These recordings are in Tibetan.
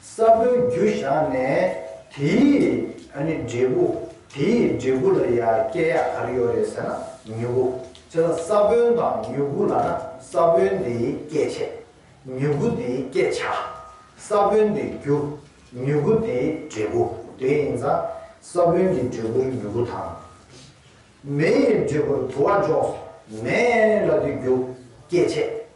ས་བོན་རྒྱུ་བཞག་ནས་དེའི་ནི་འབྲས་བུ། དེའི་འབྲས་བུ་ལ་ཡང་སྐྱེ་ཡག་ག་རེ་ཡོད་རེད་ཟེར་ན་མྱུ་གུ། དེ་ལ་ས་བོན་དང་མྱུ་གུ་ལ་ན་ས་བོན་དེའི་སྐྱེད་བྱེད། མྱུ་གུ་དེའི་སྐྱེད་བྱ། ས་བོན་དེའི་རྒྱུ། མྱུ་གུ་དེའི་འབྲས་བུ། དེ་ཡིན་ཙང་ས་བོན་གྱི་འབྲས་བུར་མྱུ་གུ་དང། མེའི་འབྲས་བུར་དུ་བ་འཇོག་སོ། མེ་ལ་དེ་རྒྱུ། སྐྱེད་བྱེད།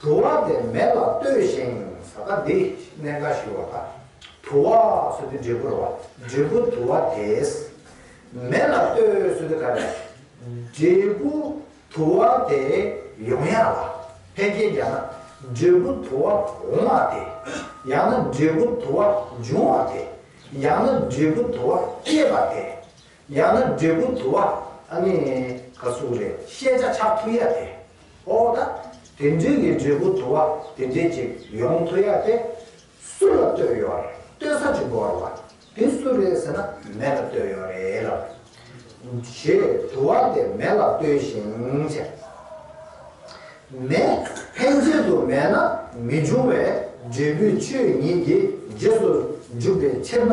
དུ་བ་དེ་མེ་ལ་ལྟོས་ཤིང་ས་ད་འདི་གནས་འགའ་ཞིག་བ་ད་དུ་བ་སུ་དེ་འབྲས་བུར་བ་འབྲས་བུ་དུ་བ་དེས་མེ་ལ་ལྟོས་སུ་དེ་ག་རེ་འབྲས་བུ་དུ་བ་དེ་ཡོང་ཡ་ལ་ཕན་རྐྱེན་བརྒྱག་ན་འབྲས་བུ་དུ་བ་འོང་བ་དེ་ཡང་ན་འབྲས་བུ་དུ་བ་འབྱུང་བ་དེ་ཡང་ན་འབྲས་བུ་དུ་བ་སྐྱེས་པ་དེ་ཡང་ན་འབྲས་བུ་དུ་བ་ཨ་ནི་ག་གཟུགས་རེད་བཤད་བྱ་ཆགས་ཐུ་ཡ་དེ་ཨོ་ད་དེ་འདྲི་གི་འབྲས་བུ་དུ་བ་དེ་འདྲི་ཅིག་ཡོང་ཐུ་ཡ་དེ་སུ་ལ་ལྟོས་ཡོད་རེད་ལྟོས་ས་ཅི་འགོར་བ་དེ་སུ་རེད་ཟེར་ན་མེ་ལ་ལྟོས་ཡོད་རེད་ལབ་བྱེད་དུ་བ་དེ་མེ་ལ་ལྟོས་ཤིང་བྱེད་མེ་ཕན་ཆད་དུ་མེད་ན་མི་འབྱུང་བས་འབྲས་བུའི་ཆོས་ཉིད་ཀྱི་རྗེས་སུ་འཇུག་པའི་ཕྱིར་ན།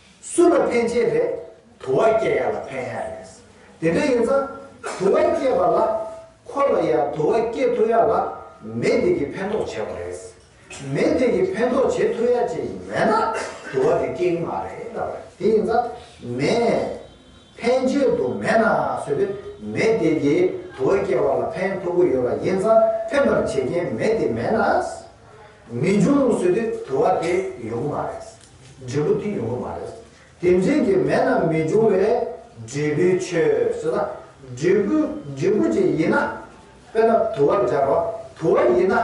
སུ་ལ་ཕན་ཆེད་རེད། དུ་བ་སྐྱེས་ཡག་ལ་ཕན་ཡག་རེད། དེ་འདྲ་ཡིན་ཙང། དུ་བ་སྐྱེས་པ་ལ། ཁོ་ལ་ཡང་དུ་བ་སྐྱེས་ཐུབ་ཡག་ལ། མི་དེ་གིས་ཕན་ཐོགས་བྱས་པ་རེད། མི་དེ་གིས་ཕན་ཐོགས་བྱེད་ཐུབ་ཡག་ཅིག་མེད་ན། དུ་བ་དེ་སྐྱེ་གི་མ་རེད་ལབ་པ་རེད། དེ་ཡིན་ཙང། མི། ཕན་ཆེད་དུ་མེད་ན་བཟོས་པའི་མི་དེ་གིས་དུ་བ་སྐྱེས་པ་ལ་ཕན་ཐོགས་གི་ཡོད་པ་ཡིན་ཙང་ཕན་པར་བྱེད་མཁན་མི་དེ་མེད་ན། མི་འབྱུང་བཟོས་དུས་དུ་བ་དེ་ཡོང་གི་མ་རེད། འབྲས་བུ་དེ་ཡོང་གི་མ་རེད། དེ་འཛིན་གྱི་མེད་ན་མི་འབྱུང་བས་འབྲས་བུའི་ཆོས་ཟེར་ན། འབྲས་བུ་འབྲས་བུ་ཅིག་ཡིན་ན། དཔེར་ན་དུ་བ་སྦྱར་བ་དུ་བ་ཡིན་ན།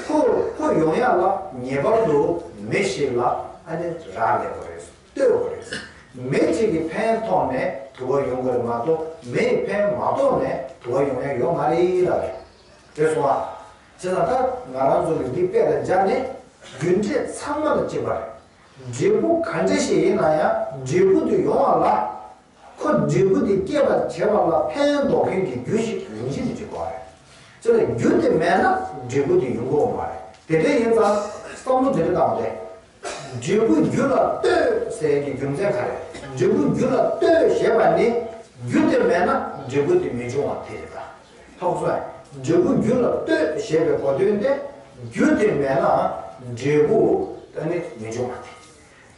ཕུ་ཕུ་ཡོང་ཡ་ལ་ངེས་པར་དུ་མེ་ཞིག་ལ་ཨ་ནི་རག་ལས་པ་རེད་ལྟོས་པ་རེད། མེ་ཅིག་གི་ཕན་ཐོག་ནས་དུ་བ་ཡོང་གི་རེད་མ་གཏོགས་མེའི་ཕན་མ་ཐོག་ནས་དུ་བ་ཡོང་ཡ་ཡོད་མ་རེད་ལ་རེད་སོང་ཨ། བྱས་ལ་ད་ང་རང་ཚོ་ལ་འདི་དཔེ་ལ་སྦྱར་ནས་རྒྱུ་འབྲས་ཚང་མ་ལ་དཔྱད་པར། འབྲས་བུ་ག་འདྲ་ཞིག་ཡིན་ན་ཡང་འབྲས་བུ་དེ་ཡོང་བ་ལ། ཁོ་འབྲས་བུ་དེ་སྐྱེད་པར་བྱེད་པ་ལ་ཕན་འདོགས་མཁན་གྱི་རྒྱུ་ཞིག་རིམ་བཞིན་དུ་བྱེད་དགོས་པ་རེད། བྱས་ལ་རྒྱུ་དེ་མེད་ན་འབྲས་བུ་དེ་ཡོང་གི་འོང་བ་རེད། དེ་འདྲ་ཡིན་ཙང་བསམ་བློ་དེ་འདྲ་བཏང་བ་རེད། འབྲས་བུ་རྒྱུ་ལ་ལྟོས་ཟེར་གྱི་རྒྱུ་མཚན་ག་རེད། འབྲས་བུ་རྒྱུ་ལ་ལྟོས་ཞེས་པ་ནི་རྒྱུ་དེ་མེད་ན་འབྲས་བུ་དེ་མི་འབྱུང་བ་དེ་རེད་ད། ཐོག་སོ། འབྲས་བུ་རྒྱུ་ལ་ལྟོས་ཞེས་པའི་གོ་དོན་ཏེ། རྒྱུ་དེ་མེད་ན་འབྲས་བུ་དེ་ནི་མི་འབྱུང་བ་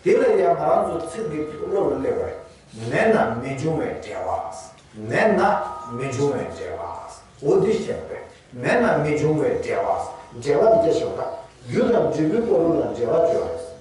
སྟེ། དེ་ལ་ཡང་ང་རང་ཚོ་ཚིག་འདི་ཐུགས་བློ་ལ་གླེགས་པར། མེད་ན་མི་འབྱུང་བའི་འབྲས་བ། མེད་ན་མི་འབྱུང་བའི་འབྲས་བ། འོ་དེ་བཤད་པ་རེད། མེད་ན་མི་འབྱུང་བའི་འབྲས་བ། འབྲས་བ་འདི་སྐད་བཤད་པ་དང། རྒྱུ་དང་འབྲས་བུའི་སྐོར་ལུགས་ལ་འབྲེལ་བ་བཅོལ་བ་རེད།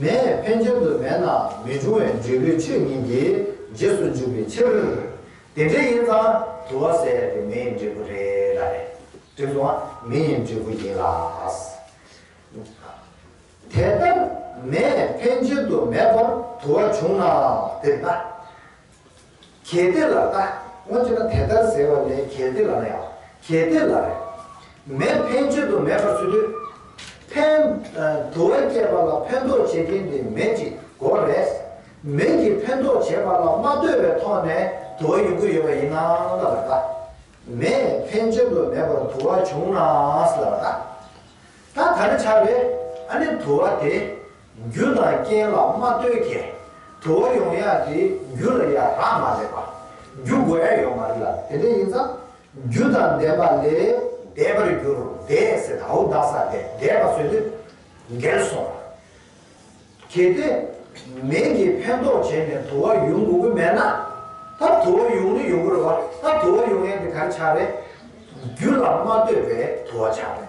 མེད་ཕན་ཆད་དུ་མེད་ན་མི་འབྱུང་བའི་འབྲས་བུའི་ཆོས་ཉིད་ཀྱི་རྗེས་སུ་འཇུག་པའི་ཕྱིར། དེ་འདྲ་ཡིན་ཙང་དུ་བ་ཟད་པའི་མེའི་འབྲས་བུ་རེ་ར་རེ་བྲིས་སོང་བ་མེའི་འབྲས་བུ་ཡིན་ལ། དེ་ལྟར་མེད་ཕན་ཆད་དུ་མེད་པར་དུ་བ་བྱུང་ནའང་དེ་ལྟ། གལ་ཏེ་ལ་ན། སྔོན་ཚུད་ན་དེ་ལྟར་ཟེར་བ་ལས་གལ་ཏེ་ལ་ན་ཡང། གལ་ཏེ་ལ་རེ། མེད་ཕན་ཆོད་དུ་མེད་པར་ཚུད་དུས། ཕན། དུ་བས་བསྐྱེད་པ་ལ་ཕན་འདོགས་བྱེད་མཁན་དེ་མེད་ཅིག་གོ། རེས་མེད་ཀྱིས་ཕན་འདོགས་བྱེད་པ་ལ་མ་ལྟོས་པའི་ཐོག་ནས་དུ་བ་ཡོང་གི་ཡོད་པ་ཡིན་ན་ལ་རེ་ད། མེད་ཕན་ཆོད་དུ་མེད་པར་དུ་བ་བྱུང་ན་ལ་རེ་ད། ད་ད་ནི་ཆགས་པས་ཨ་ནི་དུ་བ་དེ། རྒྱུ་དང་རྐྱེན་ལ་མ་ལྟོས་མཁན། དུ་བ་ཡོང་ཡག་གི་རྒྱུ་ལ་ཡ་རངས་མ་བྱེད་པ། རྒྱུ་འགོ་ཡ་ཡོང་མ་རིག་ལ་དེ་འདྲ་ཡིན་ཙང། རྒྱུ་དང་ལྡན་པ་ལས་འདས་པར་འགྱུར་བདེ་སེ་ད་ཧུ་ད་ས་དེ་འདས་པ་ཟོས་དུས་འགལ་སོང་བ། གལ་ཏེ། མིང་གིས་ཕན་འདོགས་བྱས་ནས་དུ་བ་ཡོང་དགོས་ཀྱི་མེད་ན། ད་དུ་བ་ཡོང་ནི་ཡོང་གི་རེད་བ། ད་དུ་བ་ཡོང་ཡག་གི་གར་ཆགས་རེད། རྒྱུ་ལ་མ་ལྟོས་པའི་དུ་བ་ཆགས་རེད།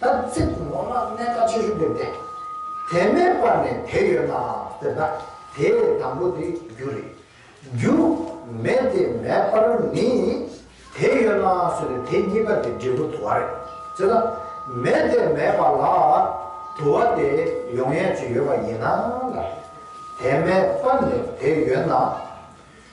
དར་ཚིགས་ནོར་ནག་གནད་ཀ་ཆེ་ཤོས་འདེབས་ཏེ། དེ་མེད་པ་ནས་དེ་ཡོད་ན་འདེབས་ན་དེ་ལས་དང་པོ་དེ་རྒྱུ་རེད། རྒྱུ་མེད་དེ་མེད་པར་ནི་དེ་ཡོད་ན་ཟེར་བའི་དེ་གཉིས་ཀ་དེ་འབྲས་བུ་དུ་བ་རེད། ཅེ་ན། མེད་དེ་མེད་པ་ལ་དུ་བ་དེ་ཡོང་ཡ་ཅིག་ཡོད་པ་ཡིན་ན་ལ། དེ་མེད་པ་ནས་དེ་ཡོད་ན།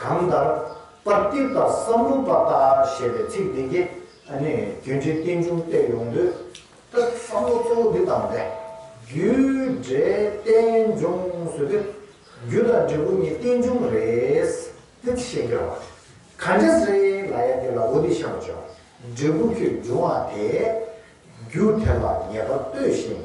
གང་ལྟར། པར་སྐྲུན་དང་བསམ་བློ་པ་ལྟ་ཞེས་པའི་ཚིག་འདི་གིས་རྒྱུད་འགྲེལ་རྟེན་འབྱུང་བསྟད་ཡོང་དུས། བསམ་བློ་གཙོ་བོ་འདི་ལྟར་འདས། རྒྱུད་འགྲེལ་རྟེན་འབྱུང་ཟེར་དུས། རྒྱུད་དང་འབྲས་བུ་གཉིས་རྟེན་འབྱུང་རེད། དེ་ཤེས་དགོས་བ། ག་འདྲ་ཟེར་ལ་ཡ་དེ་ལ་འོ་དེ་བཤད་མ་བྱོས། འབྲས་བུ་ཁྱོད་འབྱུང་བ་དེས། རྒྱུ་དེ་ལ་ངེས་པར་ལྟོས་ཤིང།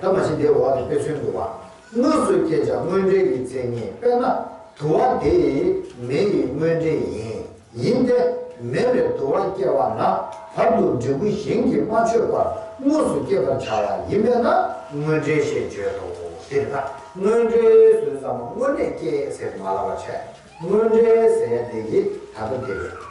ད་མ་ཤི་འདས་འོག་ནས་དཔེ་མཚོན་དུ་བ། དངོས་སུ་བསྐྱེད་བྱ་དངོས་འབྲེལ་གྱི་མཚན་ཉིད་དཔེར་ན། དུ་བ་དེ་ཡི་མེ་ཡི་དངོས་འབྲེལ་ཡིན། ཡིན་ཏེ། མེ་ལས་དུ་བ་སྐྱེ་བ་ན། བར་དུ་འབྲས་བུ་གཞན་གྱིས་མ་ཆོད་པར་དངོས་སུ་བསྐྱེད་པར་བྱ་བ་ཡིན་པས་ན་དངོས་འབྲེལ་ཞེས་བརྗོད་དོ། འདིར་ན་དངོས་འབྲེལ་ཟོས་ཙམ་དངོས་གནས་སྐྱེས་ཟེར་མ་ལ་བ་ཆད་དངོས་འབྲེལ་ཟས་དེ་ཡིས་ད་ལྟ་དེ་བས།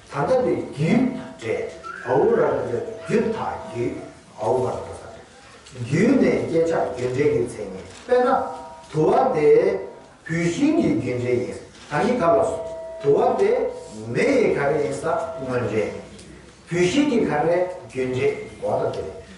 ད་ལྟ་ནི་རྒྱུད་དང་འབྲས་བུ་རང་གི་རྒྱུད་དང་རྒྱུད་བོང་བར་འགྲོ་ས་རེད། རྒྱུད་ནས་བསྐྱེད་ཆགས་རྒྱུད་འབྲེལ་གྱི་མཚན་ཉིད་དཔེར་ན། དུ་བ་དེ་བུད་ཤིང་གི་རྒྱུད་འབྲེལ་ཡིན་ས་ག་ཡི་ག་ལ་སོང། དུ་བ་དེ་མེ་ཡི་ག་རེ་ཡིན་ས་དངོས་འབྲེལ། བུད་ཤིང་གི་ག་རེ་རྒྱུད་འབྲེལ་འོ་ན་དེ།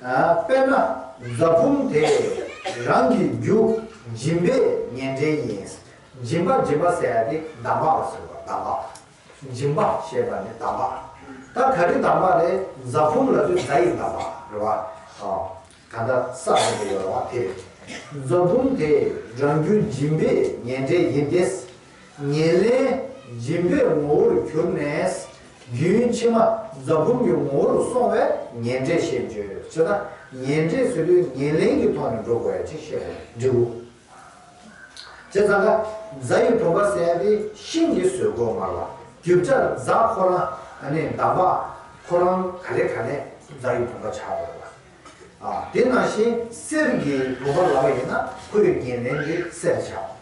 དཔེར་ན་རྫ་བུམ་དེ་རང་གི་རྒྱུ་འབྱིན་པས་ཉེ་འབྲེལ་ཡིན། འབྱིན་པ་འབྱིན་པ་ཟེར་ཏེ་འདམ་བག་ལ་ཟེར་བ་འདམ་བག། འབྱིན་པ་ཞེས་པ་ནི་འདམ་བག། ད་ག་རེ་འདམ་བག་རེད་རྫ་བུམ་ལ་དུས་རྫ་ཡི་འདམ་བག་རེད་བ། གང་ལྟར་ས་རེད་པ་ཡོད་རེད་བ་དེ་རེད། རྫ་བུམ་དེ་རང་རྒྱུ་འབྱིན་པས་ཉེ་འབྲེལ་ཡིན་ཏེ། ཉེར་ལེན་སྦྱིན་པའི་ངོ་བོར་གྱུར་ནས། རྒྱུན་ཕྱི་མ་རྫ་བུམ་གྱི་ངོ་བོར་སོང་བས་ཉེར་འབྲས་ཞེས་བརྗོད། ཅེ་ན། ཉེར་འབྲས་སུ་ལུས་ཉེར་ལེན་གྱི་ཐོག་ནས་འགྲོ་དགོས་ཡ་ཅེས་བཤད་པའི་འབྲས་བུ། ཅེས་ཙང་ཀ་རྫ་ཡི་བུམ་པ་གསལ་བའི་ཤིང་གི་ཟོལ་གོས་དམར་བ་རྒྱུ་བྲལ་རྫ་ཁོ་རང་ནི་འདམ་བག་ཁོ་རང་ག་ལེ་ག་ལེ་རྫ་ཡི་བུམ་པ་བྱ་དགོས་ལ། དེ་ནང་བཞིན་གསེར་གྱི་བུམ་པ་ལ་བ་ཡིན་ན་ཁོའི་ཉེར་ལེན་དེ་གསེར་བྱ།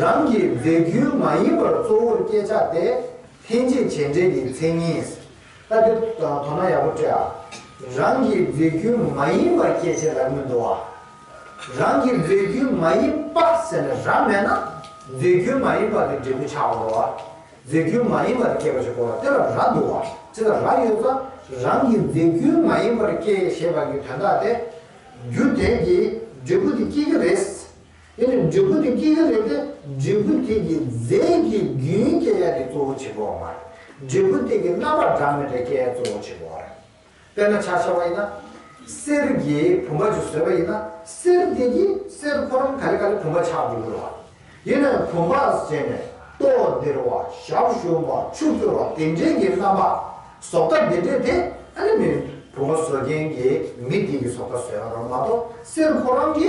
རང་གི་མཛེས་རྒྱུན་མ་ཡིན་པར་གཙོ་བོར་བསྐྱེད་བྱ་སྟེ། ལྷན་སྐྱེས་བྱས་འབྲས་ཀྱི་མཚན་ཉིད། ལྟ་དེ། དོ་ན་ཡག་པོ་བཀྲལ་ཨ། རང་གི་མཛེས་རྒྱུན་མ་ཡིན་པར་བསྐྱེད་བྱས་ལ་དངོས་འདོགས་ཨ། རང་གི་མཛེས་རྒྱུན་མ་ཡིན་པ་ཟེར་ནས་ར་མེད་ན། མཛེས་རྒྱུན་མ་ཡིན་པ་དེ་འབྲས་བུ་ཆགས་འགྲོ་ཨ། མཛེས་རྒྱུན་མ་ཡིན་པ་དེ་བསྐྱེད་པ་ཞིག་གོ་ལ་དེ་ལ་ར་འདུག་ཨ། དེ་ལ་ར་ཡོད་ས། རང་གི་མཛེས་རྒྱུན་མ་ཡིན་པར་བསྐྱེད་ཞེས་པ་ཀྱི་དོན་དག་སྟེ། རྒྱུ་དེས་ཀྱི་འབྲས་བུ་དེ་བསྐྱེད་རྒྱུ་རེད། དེ་ནི་འབྲས་བུ་དེ་སྐྱེ་གི་རེད་དེ་འབྲས་བུ་དེ་གི་རྫས་ཀྱི་རྒྱུན་སྐྱེ་གཡའ་དེ་གཙོ་བོ་ཆེན་པོ་བ་མ་རེད་འབྲས་བུ་དེ་གི་རྣམ་པར་གྲངས་མེད་དེ་སྐྱེ་གཡའ་གཙོ་བོ་ཆེན་པོ་བ་རེད། དཔེར་ན་ཆར་ཆ་བ་ཡིན་ན། གསེར་གྱི་བུམ་པ་ཅིག་བཟོས་པ་ཡིན་ན་གསེར་དེ་གི་གསེར་ཕོ་རམ་ག་ལེ་ག་ལེ་བུམ་པ་ཆགས་འདུག་གི་རེད་བ། ཡིན་ནའི་བུམ་པ་བཟས་ནས་ཏོག་འདིར་བ་ཞག་ཞུམ་བ་ཆུ་བསྐྱོ་བ་དེ་འདྲའི་གི་རྣམ་པ་ཟོག་ཐ་དེ་འདྲའི་དེ་ཨ་ནི་མིན་བུམ་པ་བཟོ་མཁན་གི་མི་དེ་གི་ཟོག་ཐ་བཟོས་པ་རོ་མ་གཏོགས་གསེར་ཕོ་རམ་གི་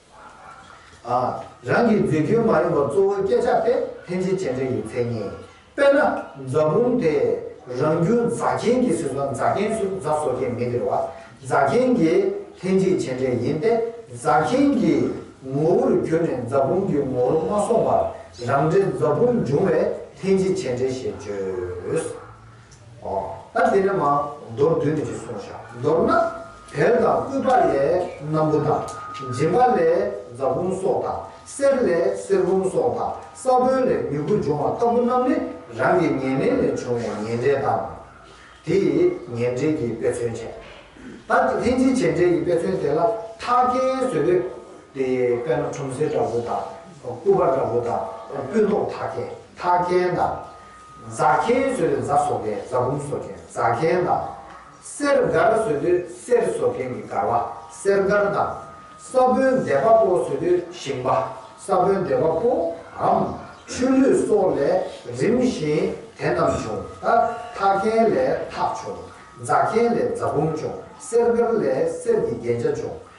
རང་གི་འཛིན་སྐྱོན་མ་ཡིན་པ་གཙོ་བོའི་སྐད་ཆ་དེ་ལྷན་སྐྱེས་སྤྱན་འདྲེན་གྱི་མཚན་ཉིད། དཔེར་ན། རྫ་བུམ་དེ་རང་རྒྱུད་རྫ་མཁན་གྱི་ཟེར་སོང་རྫ་མཁན་ཚུལ་རྫ་བཟོ་མཁན་མི་འདིར་བ་རྫ་མཁན་གྱི་ལྷན་སྐྱེས་སྤྱན་འདྲེན་ཡིན་ཏེ་རྫ་མཁན་གྱི་ངོ་བོར་གྱུར་ནས་རྫ་བུམ་གྱི་ངོ་བོར་མ་སོང་བར་རང་འདྲའི་རྫ་བུམ་འབྱུང་བས་ལྷན་སྐྱེས་སྤྱན་འདྲེན་ཞེས་བརྗོད། ཨ། འདི་ནི་མ། མདོར་བསྡུས་ནས་གསུངས་བྱ། མདོར་ན། བལ་དང་སྐུད་པ་ལས་སྣམ་བུ་དང། འཇིམ་པ་ལས་རྫ་བུམ་སོགས་དང། གསེར་ལས་གསེར་བུམ་སོགས་དང། ས་བོན་ལས་མྱུ་གུ་འབྱུང་བ་ལྟ་བུ་རྣམས་ནི་རང་གི་ཉེ་གནས་ལས་བྱུང་བའི་ཉེ་འབྲེལ་དང། དེས་ཉེ་འབྲེལ་གྱི་དཔེ་མཚོན་བྱས། ད་ལྷན་ཅིག་བྱེད་འབྲེལ་གྱི་དཔེ་མཚོན་དེ་ལ་ཐ་སྐད་བཟོས་པས། དེ་དཔེར་ན་ཁྲོམ་སེ་འདྲ་བུ་དང། སྐུད་པ་འདྲ་བུ་དང། སྤུན་ཐོག་ཐ་སྐད་ཐ་སྐད་དང། རྫ་མཁན་བཟོས་ནས་རྫ་བཟོ་མཁན་རྫ་བུམ་བཟོ་མཁན་རྫ་མཁན་དང། གསེར་མགར་བཟོས་དུས་གསེར་བཟོ་མཁན་གྱི་མགར་བ་གསེར་མགར་དང། ས་བོན་འདེབས་པ་པོ་བཟོས་དུས་ཞིང་པ་ས་བོན་འདེབས་པ་པོའམ་ཆུ་ལུད་སོགས་ལས་རིམ་བཞིན་དེ་རྣམས་བྱུང། ཐག་མཁན་ལས་ཐག་བྱུང། རྫ་མཁན་ལས་རྫ་བུམ་བྱུང་གསེར་མགར་ལས་གསེར་གྱི་རྒྱན་ཆ་བྱུང།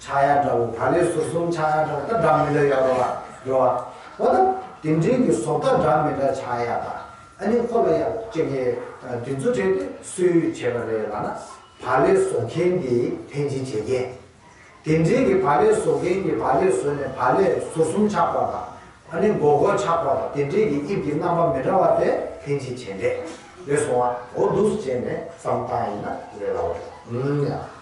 ཕྱག་གཡར་འདྲ་བོ་ད་ལོའི་ཟུར་གསུམ་ཕྱག་གཡར་འདྲ་བོ་ལྟར་སྒྲ་མི་འདྲ་ཡོད་རོ་རེད་བ། འོ་ན། དེ་འབྲེལ་གྱི་ཟོག་ལྟར་སྒྲ་མི་འདྲ་ཕྱག་གཡར་དང་ཨ་ནི་ཁོ་ལ་གཡར་བཅས་ཀྱི་དུས་ཚོད་ཁྲིད་དེ་སུས་བྱས་པ་རེད་ལགས་ན། བ་ལས་བཟོ་མཁན་གྱིས་ཐེན་ཅིན་བྱས་རྐྱེན། དེ་འབྲེལ་གྱི་བ་ལས་བཟོ་མཁན་གྱིས་བ་ལས་བཟོས་ནས་བ་ལས་ཟུར་གསུམ་ཕྱག་པ་དང་ཨ་ནི་མགོ་སྐོར་ཕྱག་པ་དང་དེ་འབྲེལ་གྱི་དབྱིབས་ཀྱི་རྣམ་པ་མི་འདྲ་བ་དེ་ཐེན་ཅིན་བྱས་འདྲེས་སོང་བ་འོ་འདུག་བྱས་ནས་བསམ་སྟངས་ཡིན་ན་རེད་ལགས།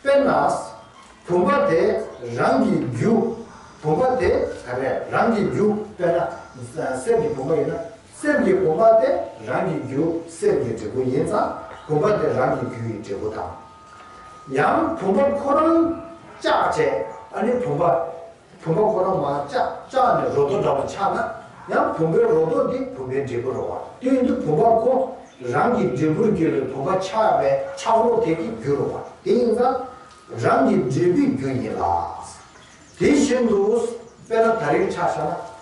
དཔེར་ན། བུམ་པ་དེ་རང་གི་རྒྱུ། བུམ་པ་དེ་རང་གི་རྒྱུ་དཔེར་ན། གསེར་གྱི་བུམ་པ་ཡིན་ན། གསེར་གྱི་བུམ་པ་དེ་རང་གི་རྒྱུ་གསེར་གྱི་འབྲས་བུ་ཡིན་ཙང་བུམ་པ་དེ་རང་གི་རྒྱུ་ཡི་འབྲས་བུ་དང། ཡང་བུམ་པ་ཁོ་རང་ལྕགས་བྱས་ཨ་ནི་བུམ་པ། བུ་མོ་ཁོ་རང་མ་བཅག་བཅག་ནས་རོ་ཏོ་འདྲ་བོ་ཆགས་ན་ཡང་བུམ་པའི་རོ་ཏོ་འདི་བུམ་པའི་འབྲས་བུར་རོ། བསྟུན་དུ་བུམ་པ་ཁོ་རང་གི་འབྲས་བུར་གྱུར་པའི་བུམ་པ་ཆགས་པའི་ཆགས་རོ་དེ་ཀྱི་རྒྱུར་རོ། དེ་ཡིན་ན་རང་གི་འབྲས་བུའི་རྒྱུ་ཡིན་ལ། དེ་བཞིན་དུ་དཔེར་ན་ད་རིང་ཆགས་ཤ་ན།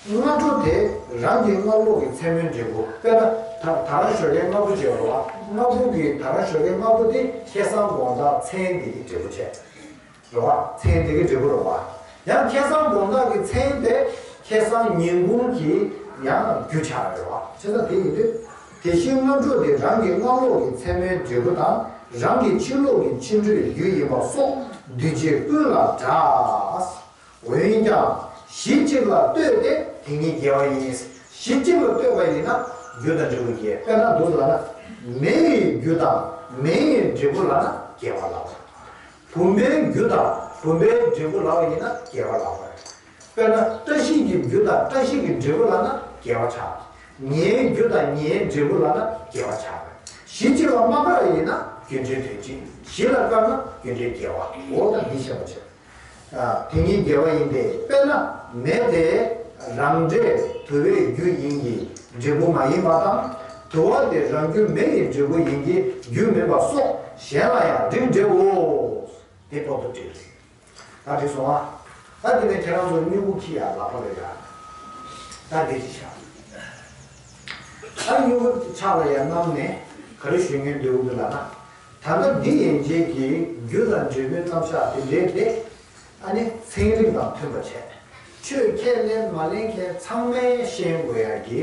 སྔ་དྲོ་དེ་རང་གི་སྔ་ལོགས་ཀྱི་མཚན་མོའི་འབྲས་བུ་དཔེར་ན་ད་ད་རང་ཞོ་ལའི་སྔ་བུ་བྱས་རོ་ལ་སྔ་བུ་གི་ད་རང་ཞོ་ལའི་སྔ་བུ་དེ་ཁྱེད་སང་དགོང་ཟླ་མཚན་འདི་ཀྱི་འབྲས་བུ་བྱས། འགྲོ་བ་མཚན་དེ་གའི་འབྲས་བུ་རོ། ཡང་ཁྱད་གསང་སྒོམ་བདག་གི་མཚན་དེ་ཁྱད་གསང་ཉིན་གུང་གི་ཡང་རྒྱུ་ཆ་རེད་བ། ཁྱད་གསང་དེ་ཡིན་དུས། དེ་བཞིན་སྔ་དྲོ་དེ་རང་གི་སྔ་ལོགས་ཀྱི་མཚན་མོའི་འབྲས་བུ་དང་རང་གི་ཕྱི་ལོགས་ཀྱི་སྤྱི་འགྲོའི་རྒྱུ་ཡིན་པ་སོགས་འདུས་བྱས་ཀུན་ལ་འདྲ། འོན་ཀྱང། གཞི་གཅིག་ལ་ལྟོས་ཏེ་དེ་གཉིས་འགལ་བ་ཡིན། གཞི་གཅིག་ལ་ལྟོས་པ་ཡིན་ན་རྒྱུ་དང་འབྲས་བུ་འགལ། དཔེར་ན་འདུག་ལགས་ན། མེ་ཡི་རྒྱུ་དང་མེ་ཡི་འབྲས་བུ་ལགས་ན་འགལ་བ་ལགས། བུམ་པའི་རྒྱུ་དང་བུམ་པའི་འབྲས་བུ་ལ་བ་ཡིན་ན་རྒྱས་པ་ལགས་པར། དཔེར་ན་བཀྲ་ཤིས་ཀྱི་རྒྱུ་དང་བཀྲ་ཤིས་ཀྱི་འབྲས་བུ་ལགས་ན་རྒྱས་པ་བྱ། ཉེའི་རྒྱུ་དང་ཉེའི་འབྲས་བུ་ལགས་ན་རྒྱས་པ་བྱ། གཞི་གཅིག་ལ་མ་དགའ་བ་ཡིན་ན་རྒྱུ་འབྲས་དོན་གཅིག་གཞི་ལ་དཀར་ན་རྒྱུ་འབྲས་རྒྱས་བའོ། ད་འདི་ཤེས་པར་བྱ། དེ་གཉིས་རྒྱས་བ་ཡིན་ཏེ་དཔེར་ན་མེ་དེ་རང་འབྲས་བུ་བའི་རྒྱུ་ཡིན་གྱི་འབྲས་བུ་མ་ཡིན་པ་དང། དུ་བ་དེ་རང་རྒྱུ་མེ་ཡི་འབྲས་བུ་ཡིན་གྱི་རྒྱུ་མེད་པ་སོགས་གཞན་ལ་ཡང་འབྲིང་འགྲེ་འོ། དེ་ཐོག་ཏུ་བྲིས་རེད། ད་བྲིས་སོང་ཨ། ད་འདི་ནས་ཁྱེད་རང་ཚོ་སྨྱུ་གུ་ཁྱི་ཡ་ལག་པ་རེད་ཡ། ད་འདི་གཅིག་བཞག། ད་སྨྱུ་གུ་ཆག་ལ་ཡ་གནམ་ནས་ག་རེ་ཞུས་ངན་འདོད་འུ་འདོད་ལ་ན། ད་ནི་འདི་ཡན་ཆད་ཀྱི་རྒྱུ་དང་འབྲས་བུའི་རྣམ་གཞག་དེ་འདྲའི་སྟེ། ཨ་ནི་ཚན་རིག་དང་མཐུན་པ་བྱས། ཆོས་ཁས་ལེན་མ་ལེན་ཁས་ཚང་མའི་ཤེས་དགོས་ཡ་གི།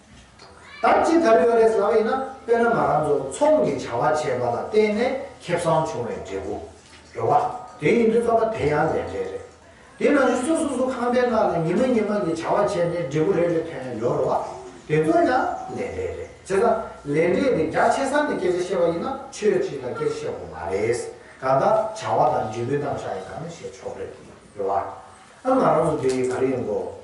དམ་ཅི་ཐབས་ཡོད་རེད་བསམ་ཡོད་ན་དཔེར་ན་ང་རང་ཚོ་ཚོང་གི་བྱ་བ་བྱས་པ་ལ་བརྟེན་ནས་ཁེ་བཟང་བྱུང་བའི་འབྲས་བུ་རེད་བ། དེ་ཡིན་དུས་བསམ་ན་དེ་ཡང་ལས་འབྲས་རེད། དེ་ནང་བཞིན་སུ་སོ་སོ་ཁང་པའི་ནང་ལ་ཉི་མ་ཉི་མ་གི་བྱ་བ་བྱས་ནས་འབྲས་བུ་རེ་རེ་ཐོན་ཡང་ཡོད་རེད་བ། དེ་ཚོ་ཡང་ལས་འབྲས་རེད། བྱས་ཙང་ལས་འབྲས་དེ་རྒྱ་ཆེ་ས་ནས་སྐད་ཆ་བཤད་པ་ཡིན་ན་ཆོས་ཁྲིད་དང་སྐད་ཆ་བཤད་དགོས་མ་རེད། གང་ལྟར་བྱ་བ་དང་འབྲས་བུའི་རྣམ་གཞག་ཡིན་ད་ནི་བཤད་ཆོག་རེད་བ། ཨ་ང་རང་ཚོ་འདི་ག་རེ་ཡིན་དགོས།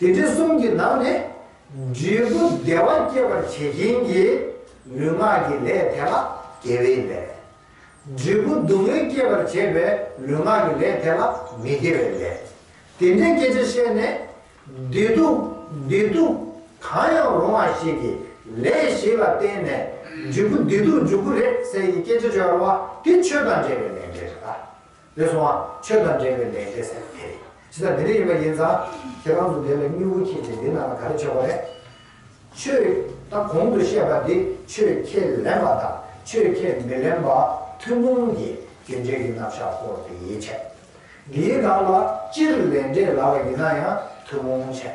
དེ་དུས་གསུམ་གྱི་ནང་ནས་འབྲས་བུ་བདེ་བ་སྐྱེད་པར་བྱེད་མཁན་གྱི་ལུས་ངག་གི་ལས་དེ་ལ་དགེ་བའི་ལས། འབྲས་བུ་སྡུག་བསྔལ་སྐྱེད་པར་བྱེད་པའི་ལུས་ངག་གི་ལས་དེ་ལ་མི་དགེ་བའི་ལས། དེ་འདྲའི་སྐད་ཆ་བཤད་ནས། བདེ་སྡུག་བདེ་སྡུག་གང་ཡང་རུང་བ་ཞིག་གི་ལས་ཞིག་ལ་བརྟེན་ནས་འབྲས་བུ་བདེ་སྡུག་འཇུག་གི་རེད་ཟེར་གྱི་སྐད་ཆ་བརྗོད་པ་དེ་ཆོས་དང་འདྲེས་པའི་ལས་འབྲས་རེད་ད། དེ་སོང་ང་ཆོས་དང་འབྲེལ་བའི་ལས་བྱས་ཟེར་དེ་ཇི་ལྟར་འདི་འདྲ་ཡིན་པ་ཡིན་ཙང་ཁྱེད་རང་ཚོ་འདི་ལ་སྨྱུ་གུ་འཁྱིལ་ཏེ་འདི་ནང་ལ་ག་རེ་བྱེད་དགོས་རེད། ཆོས་ད་གོང་དུ་བཤད་པ་འདི་ཆོས་ཁས་ལེན་པ་དང་ཆོས་ཁས་མི་ལེན་པ་ཐུན་མོང་གི་རྒྱུ་འབྲས་ཀྱི་རྣམ་གཞག་སྐོར་དེ་ཡིན་ཆད། འདིའི་ནང་ལ་སྤྱིར་ལས་འབྲས་ལ་བ་ཡིན་ན་ཡང་ཐུན་མོང་ཆད།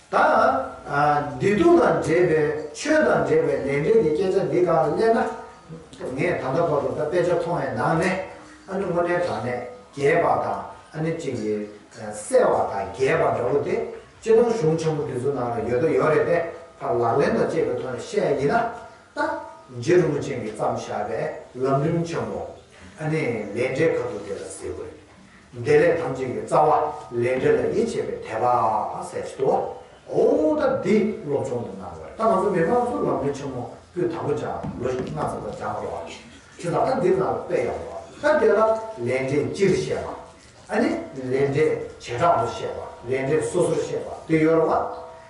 དང། བདེ་སྡུག་དང་འབྲེལ་པའི་ཆོས་དང་འབྲེལ་པའི་ལས་འབྲེལ་གྱི་སྐད་ཆ་འདི་གང་ལ་སླེབས་ན། ངས་ད་ལྟ་བར་དུ་ད་དཔེ་ཆ་མཐོང་བའི་ནང་ནས། ཨ་ནི་དངོས་གནས་དྲང་གནས་རྒྱས་པ་དང་ཨ་ནི་གཅིག་གིས་གསལ་བ་དང་རྒྱས་པ་འདྲ་བོ་དེ་སྤྱིར་བཏང་གཞུང་ཆེན་པོ་འདི་ཚོ་ནང་ལ་ཡོད་དོ་ཡོད་རེད་པས་ཕར་ལག་ལེན་དང་བཅས་པའི་ཐོག་ནས་བཤད་ཡ་ཡིན་ན། ད་རྗེ་རིན་པོ་ཆེན་གྱིས་བརྩམས་བཞག་པའི་ལམ་རིམ་ཆེན་པོ། ཨ་ནི་ལས་འབྲས་ཁ་ཐུག་དེ་ལ་ཟེར་དགོས། བདེ་ལེགས་ཐམས་ཅད་ཀྱི་རྩ་བ་ལས་འབྲས་ལ་ཡིད་ཆེས་པའི་དད་པ་སད་ཅི་དོ། ཨོ་ད་འདི་སློབ་སྦྱོང་དུ་གནང་དགོས། ད་ང་ཚོ་མི་དམངས་གཙོ་ལམ་ལུགས་ཆེན་མོ་པུས་དང་པོ་སྦྱངས་ལོ་ཞིག་སྣ་ཚོགས་པ་སྦྱངས་རོགས་ཨ། ཆུ་ད་ད་འདིར་ནང་ལ་དཔེ་ཡག་པོ་ཨ། ད་དེ་ལ་ལས་འབྲས་སྤྱིར་བཤད་པ། ཨ་ནི་ལས་འབྲས་བྱེ་བྲག་ཏུ་བཤད་པ་ལས་འབྲས་སོ་སོར་བཤད་པ་དེ་ཡོད་རེད་བ།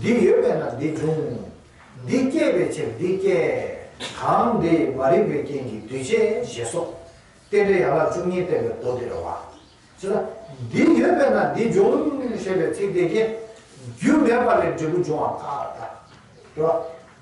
འདི་ཡོད་པས་ན་འདི་འབྱུང། འདི་སྐྱེད་པའི་ཕྱིར་འདི་སྐྱེད། གང་འདི་མ་རིག་པའི་རྐྱེན་གྱིས་འདུས་བྱས་ཞེས་སོགས། རྟེན་འབྲེལ་ཡན་ལག་བཅུ་གཉིས་བསྟན་པའི་མདོ་སྡེ་ར་བ། ཅེས་ན། འདི་ཡོད་པས་ན་འདི་འབྱུང། ཞེས་པའི་ཚིག་དེ་རྐྱེན། རྒྱུ་མེད་པ་ལས་འབྲས་བུ་འབྱུང་བ་དཀའ། འགྲོ་བ།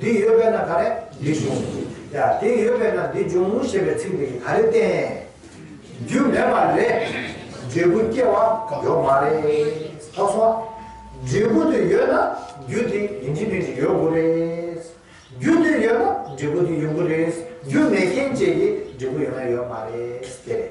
འདི་ཡོད་པས་ན་ག་རེ་འདི་བྱུང། ཡ། དེ་ཡོད་པས་ན་འདི་འབྱུང་ཞེས་པའི་ཚིག་འདི་གིས་ག་རེ་བསྟན། རྒྱུ་མེད་པ་ལས། འབྲས་བུ་སྐྱེ་བ་ཡོད་མ་རེད། ཐོག་སོང་ཨ། འབྲས་བུ་དེ་ཡོད་ན་རྒྱུ་དེ་ཡིན་གྱི་མིན་གྱི་ཡོད་དགོས་རེད། རྒྱུ་དེ་ཡོད་ན་འབྲས་བུ་དེ་ཡོད་དགོས་རེད། རྒྱུ་མེད་མཁན་བཅས་ཀྱི་འབྲས་བུ་ཡོད་ན་ཡོད་མ་རེད། དེ་རེད།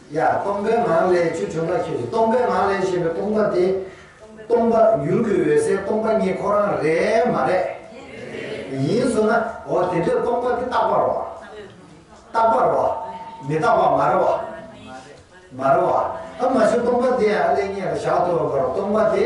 ཡ། སྟོང་པའི་ངང་ལས་བཅུ་དྲུག་ལྔ་ཁྱེར་ཞིང་སྟོང་པའི་ངང་ལས་ཞེས་པའི་སྟོང་པ་དེ། སྟོང་པ་ཡུལ་གྱི་འོད་གསལ་སྟོང་པ་ཉིད་ཁོ་རང་རེད་མ་རེད། ཡིན་བཟོ་ན། འོ་དེ་འདྲའི་སྟོང་པ་དེ་རྟག་པར་རོ། རྟག་པར་རོ། མི་རྟག་པ་མ་རེད་བ། མ་རེད་བ། ཨ་མ་བྱུང་སྟོང་པ་དེ་ཡང་ཨ་ལས་ངེས་ལ་བཞག་ཏུ་རུང་བར་སྟོང་པ་དེ།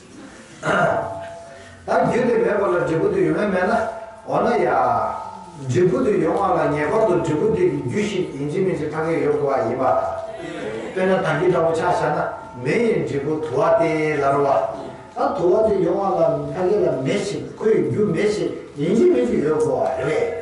ད་རྒྱུ་དེ་མེད་པ་ལ་འབྲས་བུ་དེ་ཡོད་མེད་མེད་ན། འོ་ན་ཡ། འབྲས་བུ་དེ་ཡོང་བ་ལ་ངེས་པར་དུ་འབྲས་བུ་དེ་གི་རྒྱུ་ཞིག་ཡིན་གྱི་མིན་གྱི་ཐ་སྙད་ཡོད་དགོས་པ་ཡིན་པ། དཔེར་ན་ད་རྒྱུ་འདྲ་བོ་ཆགས་བྱ་ན་མེ་ཡི་འབྲས་བུ་དུ་བ་སྟེ་ལ་རོ་བ། ད་དུ་བ་དེ་ཡོང་བ་ལ་ད་གི་ལ་མེ་ཞིག་ཁོ་ཡི་རྒྱུ་མེ་ཞིག་ཡིན་གྱི་མིན་གྱི་ཡོད་དགོས་པ་རེད།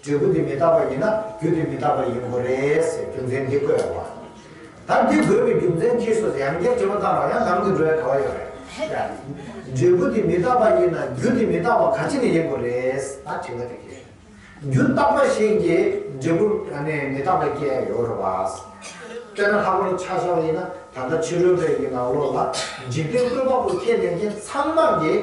འབྲས་བུ་དེ་མི་རྟག་པ་ཡིན་ན་རྒྱུ་དེ་མི་རྟག་པ་ཡིན་དགོས་རེད་ཟེར་རྒྱུ་མཚན་འདི་བཀོད་ཡོང་བ། ད་འདི་དགོས་པའི་རྒྱུ་མཚན་གྱིས་སོ་ཟེར་ཡང་བསྐྱར་དྲི་མ་བཏང་བར་ཡང་ལམ་དུ་འགྲོ་ཡ་ག་བ་ཡོད་རེད། འབྲས་བུ་དེ་མི་རྟག་པ་ཡིན་ན་རྒྱུ་དེ་མི་རྟག་པ་ག་ཅི་ནས་ཡིན་དགོས་རེད་ད་དྲི་མ་དེ་གྱིས། རྒྱུ་རྟག་པ་ཞིག་གིས་འབྲས་བུ་མི་རྟག་པ་སྐྱེ་ཡ་ཡོད་རེད་བ། དཔེར་ན་ལྷག་པར་དུ་ཆགས་བྱ་བ་ཡིན་ན་ད་ལྟ་ཕྱི་རོལ་པའི་ཡི་ནང་བློ་ལ་འཇིག་རྟེན་བཀོད་པ་པོ་ཁས་ལེན་མཁན་ཚང་མར་གྱིས་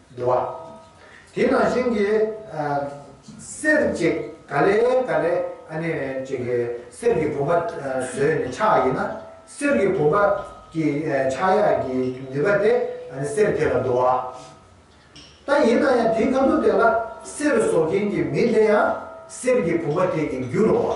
འདུ་བ། དེ་ནང་བཞིན་གྱི། གསེར་གྱི་ག་ལེ་ག་ལེ། གནས་གཅིག་གི་གསེར་གྱི་བུམ་པ་བཟོས་ནས་ཕྱག་ཡིན་ན། གསེར་གྱི་བུམ་པ་གྱི་ཕྱག་ཡ་གྱི་ནུས་པ་དེ་གསེར་དེ་ལ་འདུ་བ། ད་ཡིན་ན་ཡང་དེའི་ཁ་དོག་དེ་ལ་གསེར་བཟོ་མཁན་གྱི་མི་དེ་ཡང་གསེར་གྱི་བུམ་པ་དེ་གྱི་རྒྱུ་རུ་བ།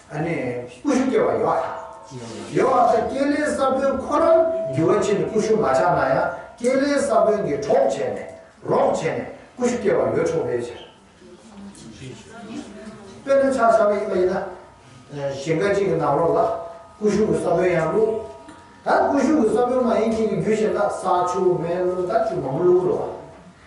ཨ་ནི་ཀུ་ཤུ་སྐྱེ་བ་ཡོད་ཨ། ཡོད་ཨ་ད་སྐྱེས་ལེའི་ས་བོན་ཁོ་རང་རྒྱུ་བ་ཕྱིར་ནི་ཀུ་ཤུ་མ་ཆགས་ན་ཡང་སྐྱེས་ལེའི་ས་བོན་གྱི་གྲོགས་བྱས་ནས་རོགས་བྱས་ནས་ཀུ་ཤུ་སྐྱེ་བ་ཡོད་ཆོག་པའི་ཕྱིར། དཔེར་ན་ཆགས་ཆགས་ཡིན་པ་ཡིན་ན། ཞིང་ཁ་ཅིག་གི་ནང་རོ་ལ་ཀུ་ཤུ་གི་ས་བོན་ཡང་བླུགས། ད་ཀུ་ཤུ་གི་ས་བོན་མ་ཡིན་ཁྱེད་ཀྱི་རྒྱུ་བྱས་ན་ས་ཆུ་མེ་རླུང་དང་ཆུ་མང་པོ་བླུག་དགོས་རོགས།